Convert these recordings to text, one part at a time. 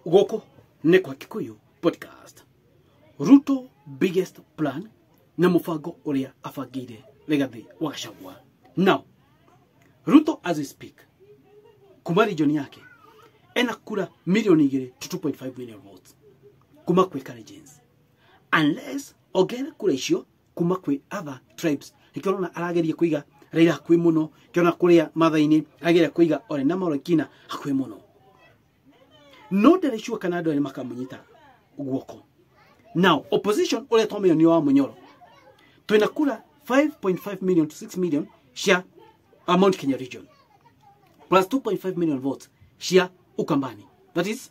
gũkũ nĩ kwa kikuyu podcast ruto biggest plan na mũbango ũrĩa abangĩire rĩgathĩ wa gacagua now ruto as we speak kuma region yake ena kura milioni igĩrĩ to 2.5 million votes kuma kwĩ Kalenjins unless ongerere kura icio kuma kwĩ other tribes nĩkĩo ũrona arageria kũiga Raila hakuhĩ mũno kĩona kũrĩa mathainĩ arageria kũiga Ole na Molekina hakuhĩ mũno no ndarĩ sure kana andũ erĩ makamũnyita guoko now opposition ũrĩa twamenya nĩ wa mũnyoro twĩna kura 5.5 million to 6 million cia uh, Mount Kenya region plus 2.5 million votes cia Ukambani that is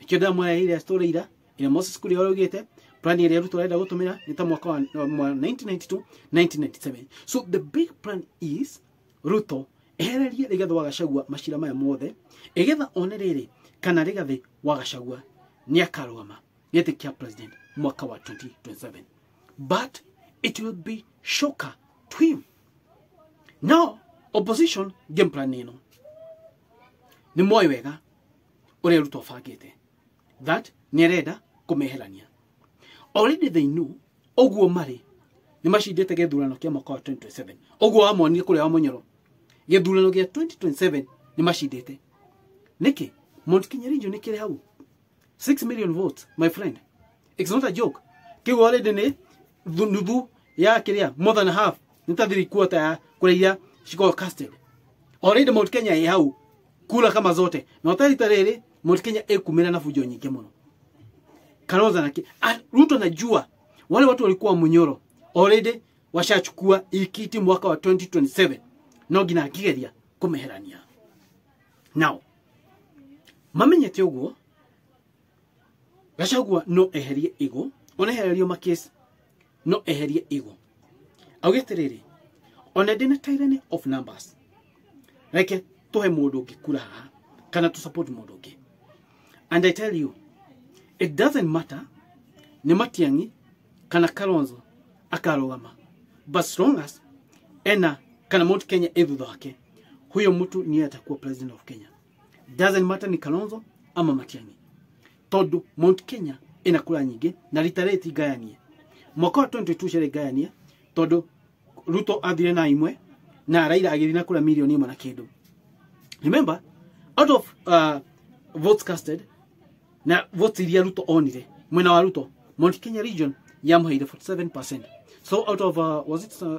ĩkĩo ndamũreheire story ira ĩrĩa moses kuri araugĩte plan ĩrĩa arutwo arenda gũtũmĩra nĩ ta mwaka wa wa 1992 1997 so the big plan is ruto ehererie rigathi wa gacagua macira maya mothe ĩgetha one rĩrĩ kana rigathi wa gacagua nĩ akarũgama gĩtĩ kĩa president mwaka wa 2027 but it will be shocker to him now opposition game plan ĩno nĩ moĩ wega ũrĩa ruto bangĩte that nĩ arenda kũmeherania already they knew ũguo marĩ nĩ macindĩte gĩthurano kĩa mwaka wa 2027 ũguo wamonire kũrĩa wa mũnyoro gĩthurano gĩa 2027 nĩ macindĩte nĩkĩ mount kenya region nĩ kĩrĩ hau 6 million votes my friend it's not a joke kĩu already nĩ thu- nuthu ya kiria more than half ni ta three quarter ya kura iria cikorwo casted already Mount Kenya ĩ hau kura kama zote na ũtarita rĩrĩ Mount Kenya ĩkumĩra na fujo nyingĩ mũno Kalonzo na ki- Ah, Ruto najua wale watu walikuwa Munyoro already washachukua ikiti mwaka wa 2027 no nginya akigeria kumeherania nao mamenyete ũguo gacagua no eherie igũ ona ehererio makesi no eherie igũ auge atĩrĩrĩ ona ndĩna tyranny of numbers reke tũhe mũndũ ũngĩ kura haha kana tũ support mũndũ ũngĩ and i tell you it doesn't matter nĩ matiang'i kana kalonzo akarũgama but as long as ena kana mount kenya ĩ thutha wake huyo mtu niye atakuwa president of kenya doesn't matter ni kalonzo ama matiangi tondu mount kenya ina kura nyingi na rita riri ti ngayanie mwaka wa 22 ciarĩ ngayanie tondu ruto athire na imwe na raira agĩthiĩ na kura milioni ĩmwe na kĩndũ remember out of uh, votes casted na votes iria ruto onire mwena wa ruto mount kenya region yamũheire 47 so out of uh, was it uh,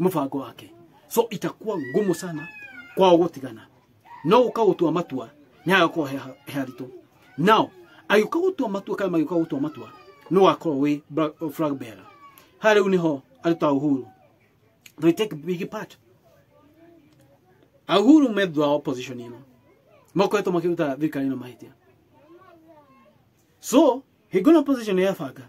mũbango wake so itakuwa ngumu sana kwao gũtigana no gũka gũtua matua nĩ agakorwo he he haritũ nao agĩũka gũtua matua kana magĩũka gũtua matua nĩ wakorwo wĩ bra- flag bearer ha rĩu nĩho arutaga uhuru they take big part ahuru me thutha wa opposition ĩno makoretwo makĩruta thirikari ĩno mahĩtia so hingo na opposition yabanga